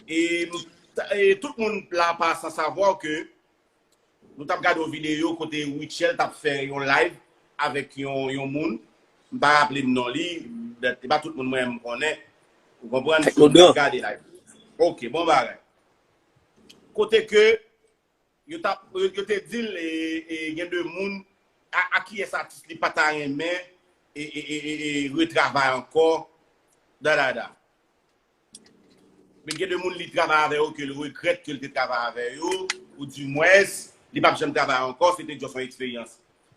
E tout moun la pa san savoir ke nou tap gade yon video kote Rutshelle tap fè yon live avèk yon moun, m pa raplem non li, e pa tout moun mwen menm konnen, ou konprann, so m tap gade live. Ok, bon bagay. Kote ke Yo tap yo te dil gen de moun a kiyes atis li pata renmen retravay anko dadada men gen de moun li travay avè yo kel regret kel te travay avè yo ou di mwens li pap janm travay anko se te just yon eksperyans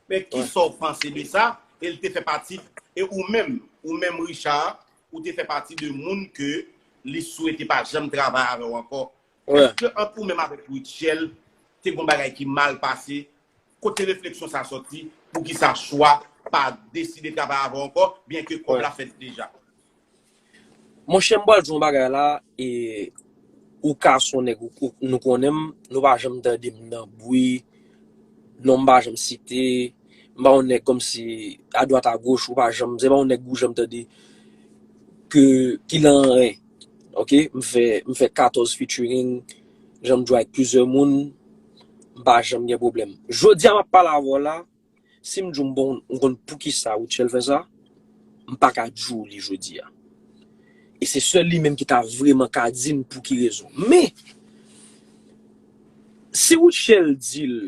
men kisaw panse de sa el te fè pati e ou menm ou menm Richard ou te fè pati de moun ke li swete pa janm travay avèw anko Eske ant ou menm avèk Rutshelle te gon bagay ki mal pase? Kote refleksyon sa sòti? Poukisa chwa pa deside travay avè w ankò byen ke kòb la fèt deja? Monchè m pral di w yon bagay la, ou ka son nèg nou konnen m, nou pa janm tande m nan bri, non m pa janm site, m pa yon nèg kòmsi adwat agoch ou pa janm, se pa yon nèg ou janm tande ke ki lan anyen. Ok, m fè m fè 14 featuring, jan m jwe ak plizyè moun, m pa janm gen pwoblèm. Jodi a m ap pale avè w la, si m di w m bon m konn poukisa Rutshelle fè sa, m pa ka di w li jodi a. E se sèl li menm ki ta vreman ka di m pou ki rezon. Men, si Rutshelle di l.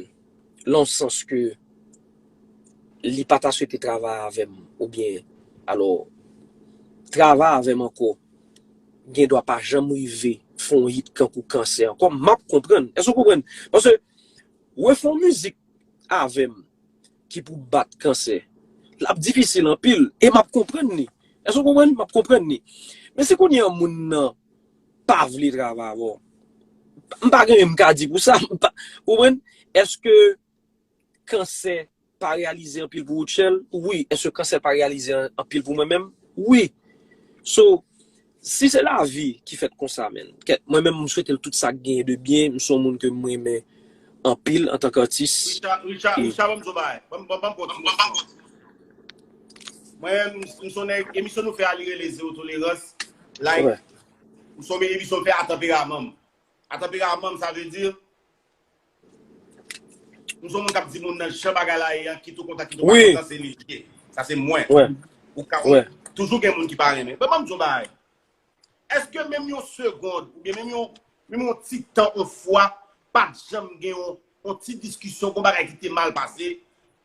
lan yon sans ke li pa ta swete travay avè m ou byen alò travay avè m ankò gen dwa pa janm rive fè yon hit kankou kansè ankò m ap konprann èske ou konprann paske refè yon mizik avè m ki pou bat kansè l ap difisil anpil e m ap konprann li èske ou konprann m ap konprann li men si kounye an moun nan pa vle travay avè w. M pa gen anyen m ka di pou sa. Ou konprann? Eske kansè pa reyalize anpil pou Rutshelle? Wi. Eske kansè pa reyalize anpil pou mwen menm? Wi. So, si se lavi ki fèt konsa menn. Mwen menm m swete l tout sa k genyen de byen. M se yon moun ke m renmen anpil antan k atis. Richard, Richard, banm di w yon bagay. Banm banm banm fon ti kesyon. Mwen menm m se yon nèg, emisyon nou fè a li rele Zero Tolerans. Like, ou son mini misyon fè a tanperamanm. A tanperamanm sa vle di, m son moun kap di moun nan jan bagay la ye an, kit ou kontan kit ou pa kontan se li ye. Sa se mwen. Ou ka wè, toujou gen moun ki pa renmen. Mwen banm di yon bagay. Eske menm yon segond, oubyen menm yon ti tan yon fwa, pat janm gen yon On ti diskisyon kon bagay ki te mal pase,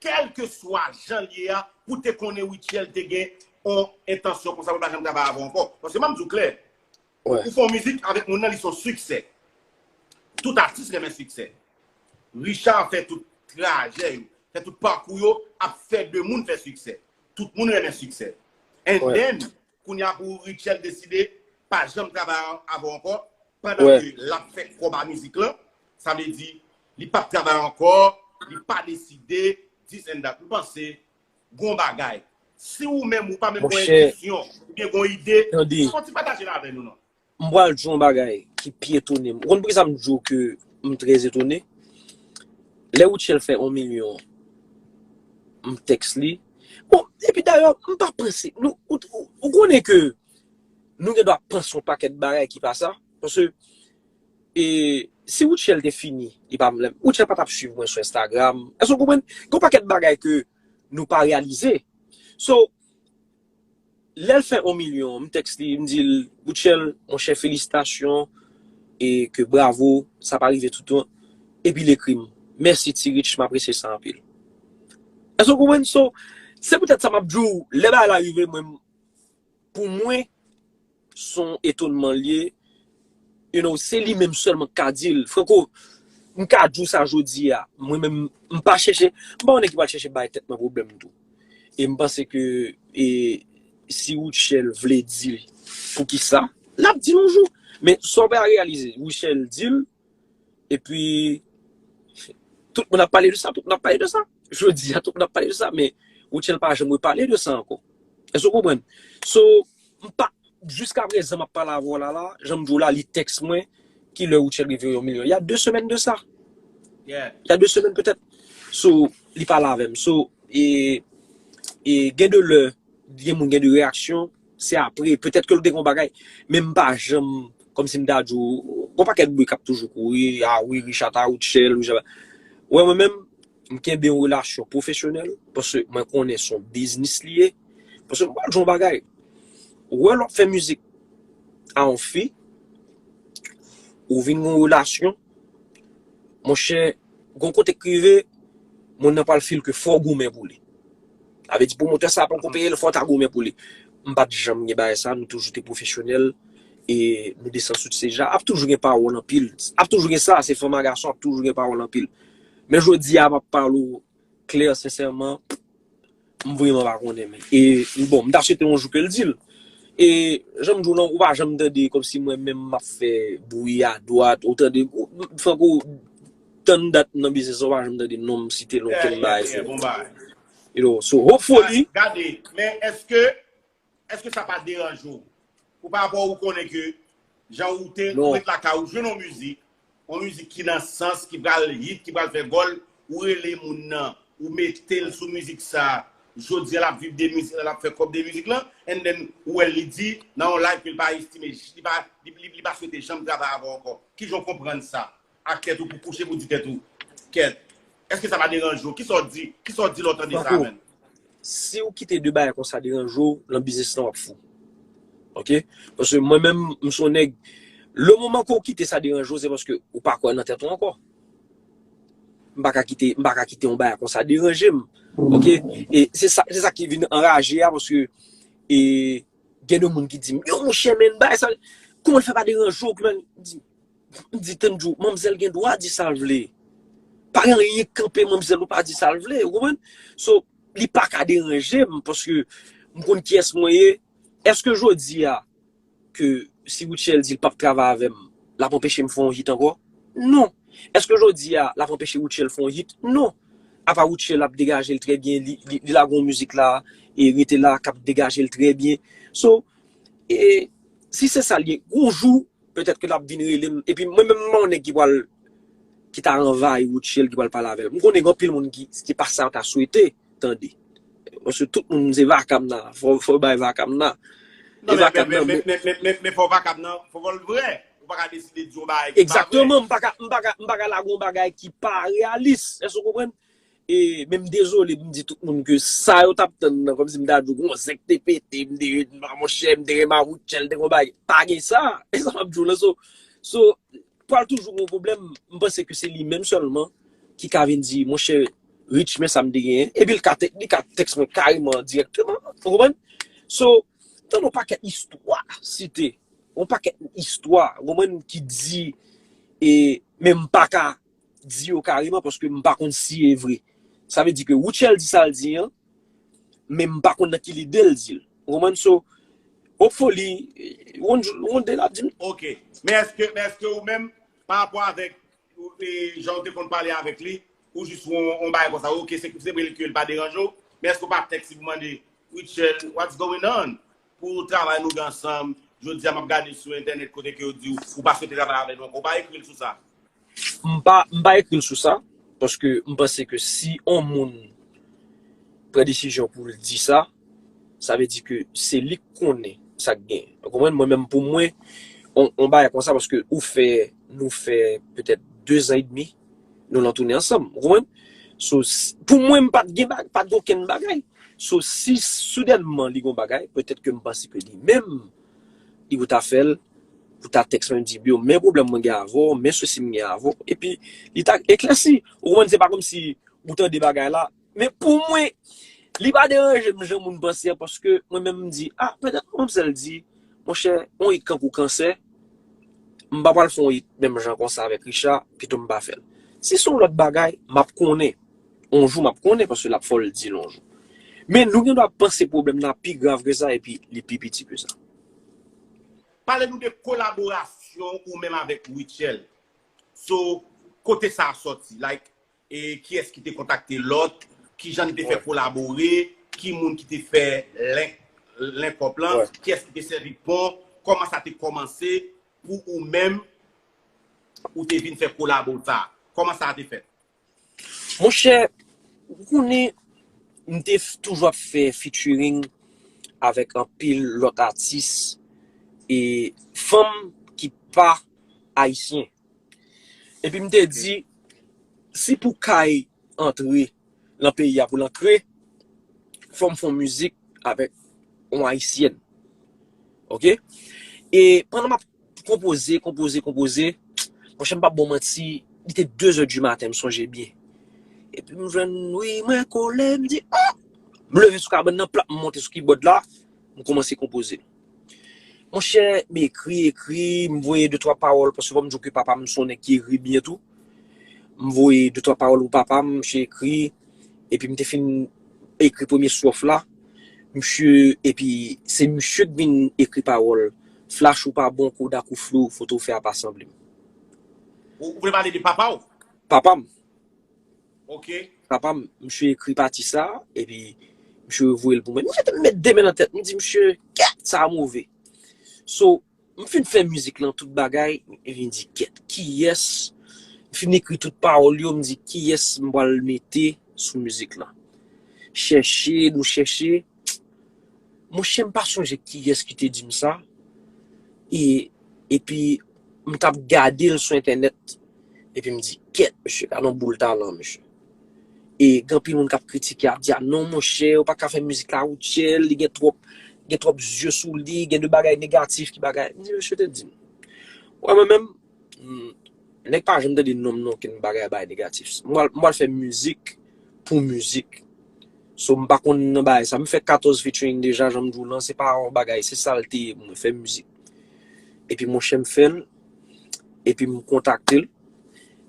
kèlke swa jan l ye a, pou w te konnen Rutshelle te gen on entansyon konsa pou l pa janm travay avè w ankò. Paske m ap di w klè, ou fè on mizik avèk moun nan li se on siksè. Tout atis renmen siksè. Richard fè tout trajè yo, fè tout pakou yo ap fè de moun fè siksè. Tout moun renmen siksè. And then, Kounya pou Rutshelle deside pa janm travay avè w ankò pandan ke l ap fè kòb a mizik lan, sa vle di li p ap travay ankò, li pa deside this and that. M panse gen yon bagay. Si ou menm ou pa menm gen yon entisyon oubyen gen yon ide, fò w ti pataje l avè nou non. M pral di w yon bagay ki pi etone m. Ou konn poukisa m di w ke m trè etone? Lè Rutshelle fè yon milyon m tèks li. Bon, epi dayè, m pa panse. Ou konnen ke nou gen dwa panse yon pakèt bagay ki pa sa. Paske, si Rutshelle te fini, li pa vle m. Rutshelle pa t ap swiv mwen sou Instagram. Èske w konprann? Gen yon pakèt bagay ke nou pa reyalize. So. Lèl fè on milyon m text li m dil Rutshelle monchè felisitasyon e ke bravo sa pa rive toutan epil ekrim mèsi ti Rich m apresye sa anpil èske w konprann so se poutèt sa map diw lè bagay la rive mwen pou mwen. Son etonman l ye, you know, se li menm sèlman ki ka di l. Franco, m ka di w sa jodi a, mwen menm, m pa chèche, m pa yon nèg ki pral chèche bay tèt mwen pwoblèm tou. E m panse ke, e, si Rutshelle vle di l poukisa, l ap di l yon jou. Men, sa w pa reyalize, Rutshelle di l, epi tout moun ap pale de sa, tout moun ap pale de sa, jodi a tout moun ap pale de sa, men Rutshelle pa janm repale de sa ankò. Èske ou konprann? So, m pa, jiska prezan m ap pale avè w la la, jan m di w la, li tèks mwen, ki lè Rutshelle rive yon milyon? Ya 2 semèn de sa. Ya 2 semèn petèt. So, li pale avè m. So, e gen de lè, gen moun gen de reyaksyon, Se apre, petèt ke l te gen yon bagay, men m pa janm, kòmsi m ta di w, gen yon pakèt bri k ap toujou kouri, a wi Richa ta out shell, Richa ta, wè mwen menm, m kenbe yon relasyon pwofesyonèl, paske mwen konnen se yon biznis li ye, paske m pral di w yon bagay, wè lè w ap fè mizik a yon fi, ou vin gen yon relasyon, monchè, gen yon kote k rive, moun nan pral feel ke fò w goumen pou li. Sa vle di pwomotè sa poko peye l fò w ta goumen pou li. M pat janm gen bagay sa, nou toujou te pwofesyonèl e nou desann sou ti se ja. Ap toujou gen pawòl anpil, ap toujou gen sa, se fanm a gason ap toujou gen pawòl anpil. Men jodi a m ap pale w klè sensèman, m vreman pa konnen men. E bon, m ta swete yon jou ke l di l. E jan m di w lan, ou pa janm tande kòmsi mwen menm m ap fè bwi a dwat, ou tande, Franco, tann dat m nan biznis lan ou pa janm tande non m site nan okenn bagay sou yo you know so hopefully Gade men eske eske sa pa deranje w pou pa rapò ou konnen ke jan ou te ou ret lakay ou jwenn yon mizik yon mizik ki nan sans ki pral hit ki pral fè gòl ou rele moun nan ou mete l sou mizik sa jodi a l ap viv de mizik la l ap fè kòb de mizik lan and then ou wè l li di nan yon live ke l pa estime li pa li pa swete janm travay avè w ankò kijan w konprann sa ak tèt ou pou kouche pou di tèt ou kèt eske sa pa deranje w kisa w di kisa w di lè w tande sa menm. Siw kite de bagay konsa deranje w lan biznis lan wap fou ok paske mwen menm m son nèg le moman ke w kite sa deranje w se paske ou pa kwè nan tèt ou ankò m pa ka kite m pa ka kite yon bagay konsa deranje m ok e se sa se sa ki vin anraje a paske e gen de moun ki di m yo monchè men bagay sa kòman l fè pa deranje w kòman m di M di tann jou, manmzèl gen dwa di sa l vle. Pa gen anyen k kanpe manmzèl pou l pa di sa l vle, ou konprann? So, li pa ka deranje m paske m konn kiyès mwen ye. Èske jodi a ke si Rutshelle di l pap travay avè m, l ap anpeche m fè yon hit ankò? Non. Èske jodi a l ap anpeche Rutshelle fè yon hit? Non. Apa Rutshelle ap degaje l trè byen, li lage yon mizik la e rete la k ap degaje l trè byen. So, e si se sa l ye, yon jou, Petèt ke l ap vin rele m. Epi mwen menm m pa yon nèg ki pral ki ta anvayi Rutshelle ki pral pale avè l. M konnen gen anpil moun ki se pa sa yo ta swete tande. Paske tout moun se vakam nan. Fò yo bay vakam nan. Non E men men vakam men nan men bon. men men men men fò vakam nan fò l vrè. Ou pa ka deside di yon bagay ki pa vrè. Egzakteman, m pa ka m pa ka m pa ka lage yon bagay ki pa reyalis. Èske ou konprann? E men m dezole m di tout moun ke sa yo tap tann nan kòmsi m ta di w gon zèk te pete m te ret nan monchè m te gen ma voutchèl te gon bagay pa gen sa e sa map di w lan so so pral toujou gon pwoblèm m panse ke se li menm sèlman ki ka vin di monchè Rich men sa m te genyen epi l ka li ka tèks mwen kareman dirèkteman ou konprann so tann on pakèt istwa site on pakèt istwa ou konprann ki di e men m paka di yo kareman paske m pa konn si e vre. Sa vle di ke Rutshelle di sa l di an, men m pa konn nan ki lide l di l. Ou konprann? So, hopefully, yon de l ap di m. Ok. Men eske, men eske ou menm, pa rapò avèk jan ou te konn pale avèk li, ou jis wè yon bagay konsa, ok, se vre l ke l pa deranje w, men eske ou pa tèks li pou mande, Rutshelle, what's going on? Pou travay nou gen ansanm, jodi a m ap gade sou entènèt kote ke yo di w ou pa swete travay avè nou ankò, ou pa ekri l sou sa? M pa, m pa ekri l sou sa, paske m panse ke si on moun pran desizyon pou l di sa, sa vle di ke se li k konnen sa k gen. Ou konprann? Mwen menm pou mwen, on, on bagay konsa paske ou fè, nou fè petèt dezan edmi Nou lan tounen ansanm. Ou konprann? So, pou mwen m pat gen bagay, pat gen okenn bagay. So, si soudènman li gen yon bagay, petèt ke m panse ke li menm, li pou ta fè l, pou ta tèks mwen di, Bill, men pwoblèm mwen gen avè w, men sousi m gen avè w. Epi, li ta eklèsi. Ou konprann? Se pa kòmsi ou tande bagay la, Men pou mwen, li pa deranje m jan moun panse a paske mwen menm m di, ah petèt mwen m sèl di, monchè, yon it kankou kansè, m pa pral fè yon it menm jan konsa avèk Richard, pito m pa fè l. Si se yon lòt bagay, m ap konnen, yon jou m ap konnen paske l ap fò l di l yon jou. Men nou gen dwa panse pwoblèm nan ap pi grav ke sa epi li pi piti ke sa. Pale nou de kolaborasyon ou menm avèk Rutshelle. So, kote sa sòti? Like, E kiyès ki te kontakte lòt? Kijan li te fè kolabore? Ki moun ki te fè link up lan? Kiyès ki te sèvi pon? Kòman sa te kòmanse pou ou menm ou te vin fè kolabo sa? Kòman sa te fèt? Monchè, ou konnen m te toujou ap fè featuring avèk anpil lòt atis e fanm ki pa ayisyen. Epi m te di, Si pou Kay antre lan peyi a pou l antre, fò m fè yon mizik avèk yon Ayisyèn. Ok? E pandan m ap konpoze, konpoze, konpoze, monchè m pap ba w manti, li te dezè di maten, m sonje byen. Epi m jwenn wi mwen kole, m di, oh! M leve sou kabann nan, plap m monte sou kibòd la, m koumanse konpoze. Monchè, m ekri, ekri, m voye de twa pawòl paske kòm m di w ke papa m se yon nèg ki ekri byen tou. M voye de twa pawòl pou papa m, misye ekri, epi m te fin ekri premye stròf la, misye, epi se misye k vin ekri pawòl, Flash ou pa bon, Kodak ou flou, foto w fè a pa sanble m. Ou vle pale de papa w? Papa m. Papa m, msye ekri pati sa a, epi msye revoye l pou mwen. Msye te m met de men nan tèt, m di msye, Kèt! Sa a move. So, m fin fè mizik lan, tout bagay, epi m di, Kèt! Kiyès? M fin ekri tout pawòl yo, m di, Kiyès m pral mete sou mizik lan? Chèche, nou chèche. Monchè m pa sonje kiyès ki te di m sa, e, epi m t ap gade l sou entènèt, epi m di, kèt, misye ka yon boul talan, misye. E, gen anpil moun k ap kritike, ap di, a non monchè, ou pa ka fè mizik la Rutshelle, li gen twòp, gen twòp zye sou li, gen de bagay negatif ki bagay. M di, misye te di m, wè mwen menm, Nèg pa janm tande nonm non ken bagay bay negatif m pral fè mizik pou mizik so m pa konn nan bagay sa m fè 14 featuring deja janm diw lan se pa yon bagay se sal te ye pou mwen fè mizik epi monchè m fèl epi m kontakte l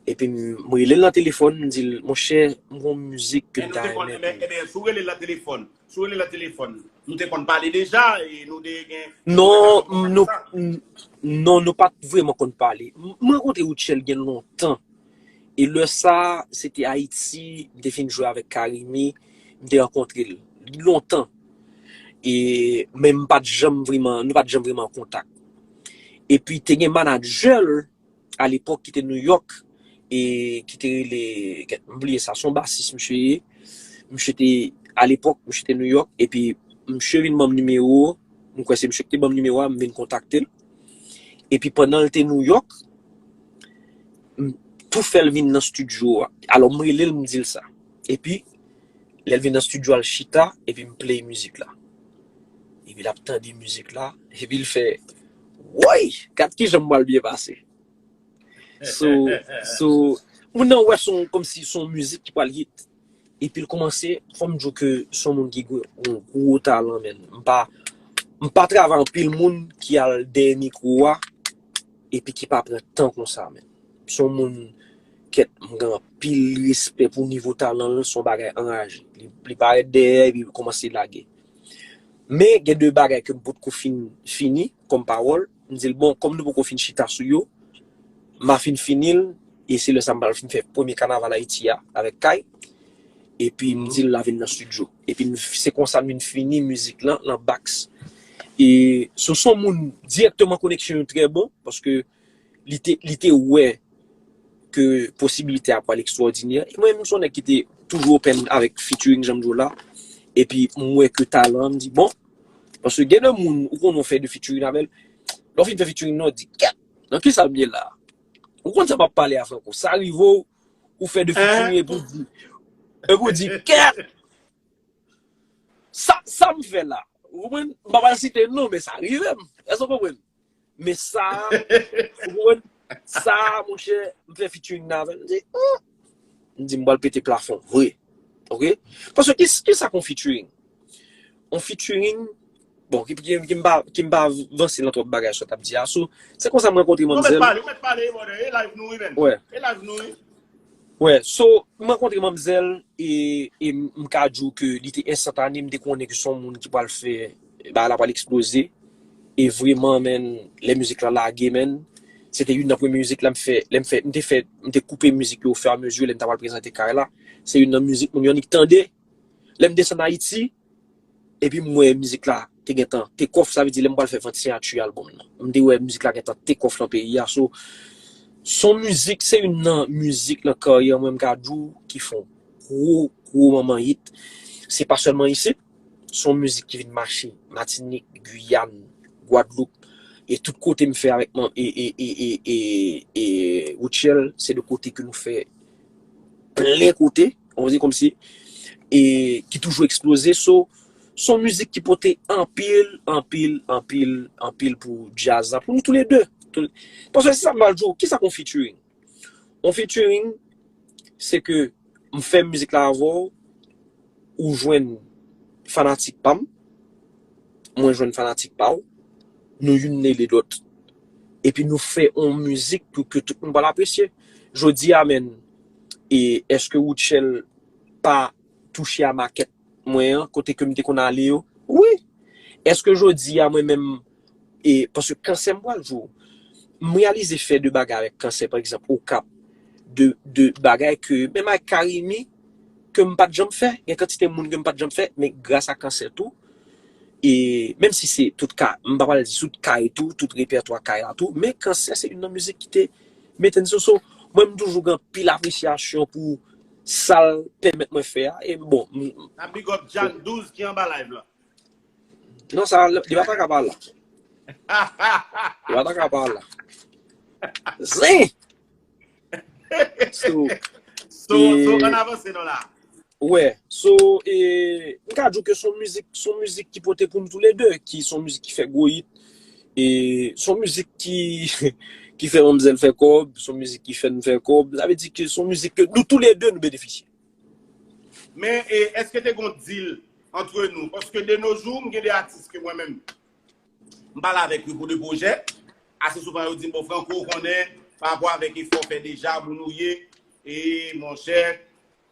epi m rele l nan telefòn m dil monchè m gon mizik ke m ta renmen pou ou. Ebyen sou relel nan telefòn Sou rele la telefòn. Nou te konn pale deja e nou de gen. Non, non, nou pat vreman konn pale. Mwen rankontre Rutshelle gen lontan. E lè sa, se te Ayiti, m te fin jwe avèk Carimi, m te rankontre l. Lontan. E, men m pat janm vreman, nou pat janm vreman an kontak. E pi te gen manadjè l a lepòk ki te New York e ki te rele m bliye sa son basis misye ye misye te a lepòk misye te New York epi misye vin banm nimewo m kwè se misye ki te banm nimewo a m vin kontakte l epi pandan l te New York m tou fè l vin nan stidyo a alò m rele l m di l sa epi lè l vin nan stidyo a l chita epi m play mizik la epi l ap tande mizik la epi l fè. Woy! Gad kijan m pral byen pase. So, so, moun nan wè son kòmsi son mizik ki pral hit. Epi l kòmanse, fò m di w ke son moun ki gen yon gwo talan menn. M pa, m pa travay anpil moun ki al dèyè mikwo a epi ki pa pran tan konsa menn. Son moun kèt m gen anpil respè pou nivo talan l, son bagay anraje. Li parèt dèyè epi l kòmanse lage. Men gen de bagay ke m potko fin fini kòm pawòl, m di l bon kòm nou poko fin chita sou yo, m a fin fini l e se lè sa m pral fin fè premye kanaval Ayiti a avèk Kay epi m di l la vin nan stidyo epi se konsa m vin fini mizik lan nan Bax e Soso moun dirèkteman koneksyon yo trè bon paske li te li te wè ke posibilite a pral ekstwòdinè, e mwen menm m son nèg ki te toujou open avèk featuring janm di w la, epi m wè ke talan an, m di bon, paske gen de moun ou konnen w fè de featuring avèl, lè w fin fè featuring nan w di gad nan kisa m ye la, ou konn sa m ap pale a Franco, sa rive w ou fè de featuring epi w di epi w di gad sa sa m fè la, ou konprann, m pa pral site non men sa rive m, èske w konprann. Men sa, ou konprann? Sa, mon chè, m fè featuring nan avèl, m di, oh! M di, m bal pete plafon, vre. Ok? Paske, ki sa kon featuring? On featuring, bon, ki m pa, ki m pa vanse nan twòp bagay sa w t ap di a, sou, se konsa m rankontre manmzèl. Ou mèt pale, ou mèt pale, brother, e live nou wi menn. Wè. E live nou wi. Wè, so, m rankontre manmzèl, e, e m ka di w ke li te enstantane, m te konnen ke son moun ki pral fè. Bagay la pral eksploze e vreman menn lè mizik la lage menn se te youn nan premye mizik la m fè lè m fè m te fè m te koupe mizik yo ofè a mezi lè m ta pral prezante kay la se youn nan mizik moun yo annik tande lè m desann ayiti epi m wè mizik la te gentan take off sa vle di lè m pral fè vant siyati album nan m te wè mizik la gentan take off nan peyi a so s on mizik se youn nan mizik nan karyè mwen m ka di w ki fon gwo gwo manman hit se pa sèlman isit. Se yon mizik ki vin mache Matinik, Guyane, Guadeloupe e tout kote m fè avèk m e e e e e e Rutshelle se de kote ke nou fè plen kote, on va dire kòmsi e ki toujou eksploze so se yon mizik ki pote anpil, anpil, anpil, anpil pou djaz la pou nou tou le 2 paske se sa m pral di w kisa k yon featuring? Yon featuring se ke m fè mizik la avè w, ou jwenn fanatik pa m, mwen jwenn fanatik pa w, nou youn mele lòt. Epi nou fè yon mizik pou ke tout moun pral apresye. Jodi a menn, eske Rutshelle pa touche a makèt? mwen an, kote ke m te konn ale yo, wi! Eske jodi a mwen menm, e, paske kansè m pral jou, m reyalize fè de bagay avèk kansè, pa egzanp, Okap, de, de bagay ke, menm avèk Carimi, ke m pa t janm fè, gen kantite moun ke m pa t janm fè, men gras a kansè tou, e, menm si se tout ka, m pa pral di tout kay tou, tout repètwa kay la tou, men kansè se youn nan mizik ki te mete m sou, so, mwen m toujou gen anpil apresyasyon pou Sal pèmèt mwen fè a e bon m. Nap big up Djann 12 ki anba live lan. Non sa li pa ta ka pa la. Li pa ta ka pa la. Zen! So, so, so an avanse non la. Wè, so e m ka di w ke son mizik, son mizik ki pote pou nou tou le 2, ki son mizik ki fè gwo hit, E son mizik ki ki fè manmzèl fè kòb, son mizik ki fè n fè kòb, sa vle di ke son mizik ke nou tou le 2 nou benefisye. Men e eske te gon deal antre nou? Paske de nos jours m gen 2 atis ke mwen menm m pale avèk yo pou 2 pwojè, ase souvan yo di m bon Franco ou konnen pa rapò avèk efò w fè deja, moun ou ye, e monchè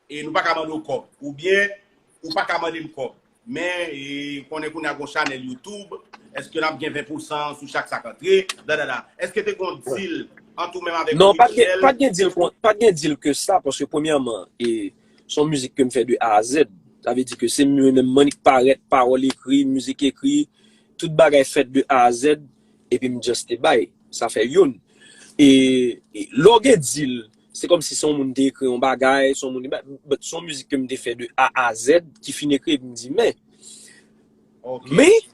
E nou pa ka mande w kòb. Ou byen ou pa ka mande m kòb. Men e konnen kounye a gon chanèl YouTube. Eske nap gen 20 pousan sou chak sak antre. Bladada. Eske te gon deal ant ou menm avèk Rutshelle? Non, pa t gen deal ke sa. Paske premyèman, e son mizik ke m fè de A a Z. Sa vle di ke se mwen menm mwen ki parèt, pawòl ekri, mizik ekri. Tout bagay fèt de A a Z. Epi m just te bay. Sa fè youn. E lè w gen deal, Se kòm si se yon moun te ekri yon bagay, se yon moun, but se yon mizik ke m te fè de A a Z, ki fin ekri epi m di men, men,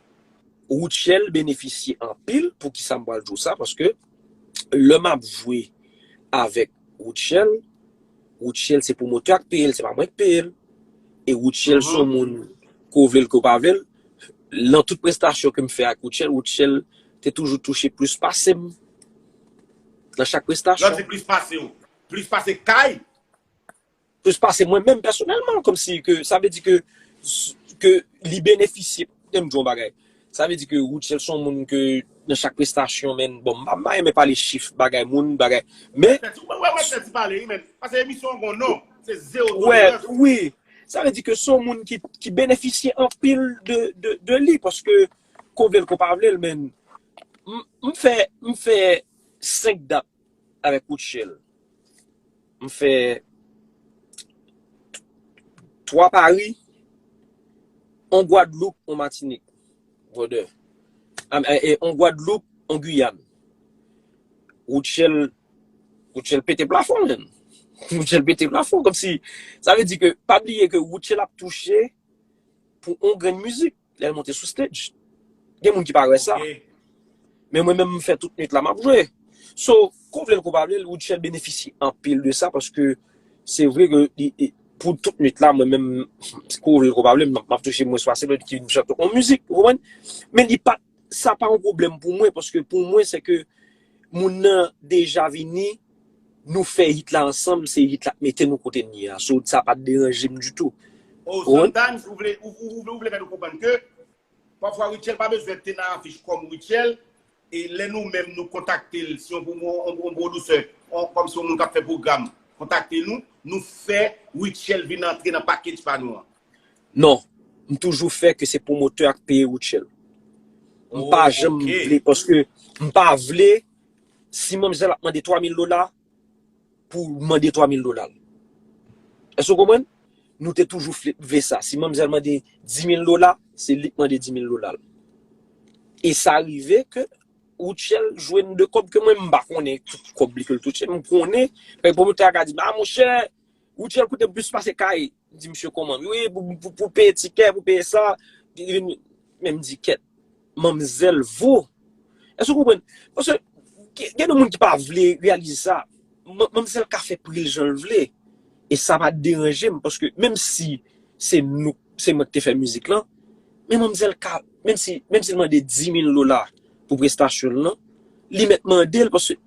Rutshelle benefisye anpil, poukisa m pral di w sa, paske lè m ap jwe avèk Rutshelle, Rutshelle se pwomotè a k peye l, se pa mwen k peye l, e Rutshelle se yon moun, ke w vle l ke w pa vle l, lan tout prestasyon ke m fè ak Rutshelle, Rutshelle te toujou touche plis pase m. Nan chak prestasyon. Landy plis pase ou. Plis pase Kay. Plis pase mwen menm pèsonèlman. Kòm si ke sa vle di ke ke li benefisye. Kite m di w yon bagay. Sa vle di ke Rutshelle son moun ke nan chak prestasyon menn bon m pa renmen pale chif bagay moun bagay men. Ou wè wè tèt ou pale wi menn. Pase emisyon an gon non. Se zewo tolerans. Ou wè wi. Sa vle di ke son moun ki benefisye anpil de li paske Ko vlel ko pa vlel men m fè m fè 5 dat avèk Rutshelle m fè 3 Paris on Guadeloupe on Martinique brother on Guadeloupe on Guyane Rutshelle Rutshelle pete plafon menn Rutshelle pete plafon kòmsi sa vle di ke pa bliye ke Rutshelle ap touche pou on grenn mizik Lè l monte sou stage. Gen moun ki pa wè sa. Men mwen menm m fè tout nwit la m ap jwe. So, ke w vle l ke w pa vle l, Woodshell benefisye anpil de sa paske se vre ke li, pou tout nwit la mwen menm, ke w vle l ke w pa vle l, m ap touche mwens pase lòt ki vin chante yon mizik. Ou konprann? Men li pa, sa pa yon pwoblèm pou mwen paske pou mwen se ke moun nan deja vini. nou fè hit la ansanm se hit la k mete nou kote n ye a so sa pat deranje m ditou Oh sometimes ou vle ou vle fè nou konprann ke pafwa Rutshelle pa bezwen te nan afich kòm Rutshelle e lè nou menm nou kontakte l si yon yon pwodusè kòm si yon moun k ap fè pwogram kontakte nou nou fè Rutshelle vin antre nan package pa nou an? Non m toujou fè ke se pwomotè a k peye Rutshelle m pa janm vle paske m pa vle Si manmzèl ap mande 3000 dola pou mande 3000 dola l. Èske ou konprann? Nou te toujou vle sa. Si manmzèl mande 10000 dola, se li k mande 10000 dola l. E sa rive ke Rutshelle jwenn de kòb ke mwen m pa konnen ki kòb li ke l touche. M konnen, pèp pwomotè a ka di m, a monchè, Hotel koute plus pase kay. M di misye koman. Wi pou peye tikè, pou peye sa. Men m di kèt. Manmzèl vo. Èske ou konprann? Paske gen de moun ki pa vle reyalize sa. Manmzèl ka fè pri l jan l vle. E sa pa deranje m. Paske menm si se nou, se mwen ki te fè mizik lan. Men manmzèl ka, menm si l mande 10 mil dola pou prestasyon l lan. Li mèt mande l paske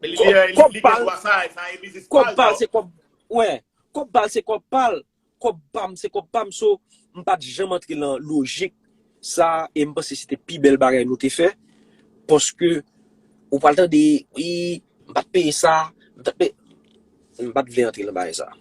Men li gen li gen dwa sa, sa e biznis pa l. Kòb pal se kòb mwen. Kòb pal se kòb pa l. Kòb pa m se kòb pa m. So, m pa t janm antre lan lojik sa a e m panse se te pi bèl bagay nou te fè. Paske ou pral tande, wi, m pa t peye sa, m ta t peye. M pa t vle antre lan bagay sa a.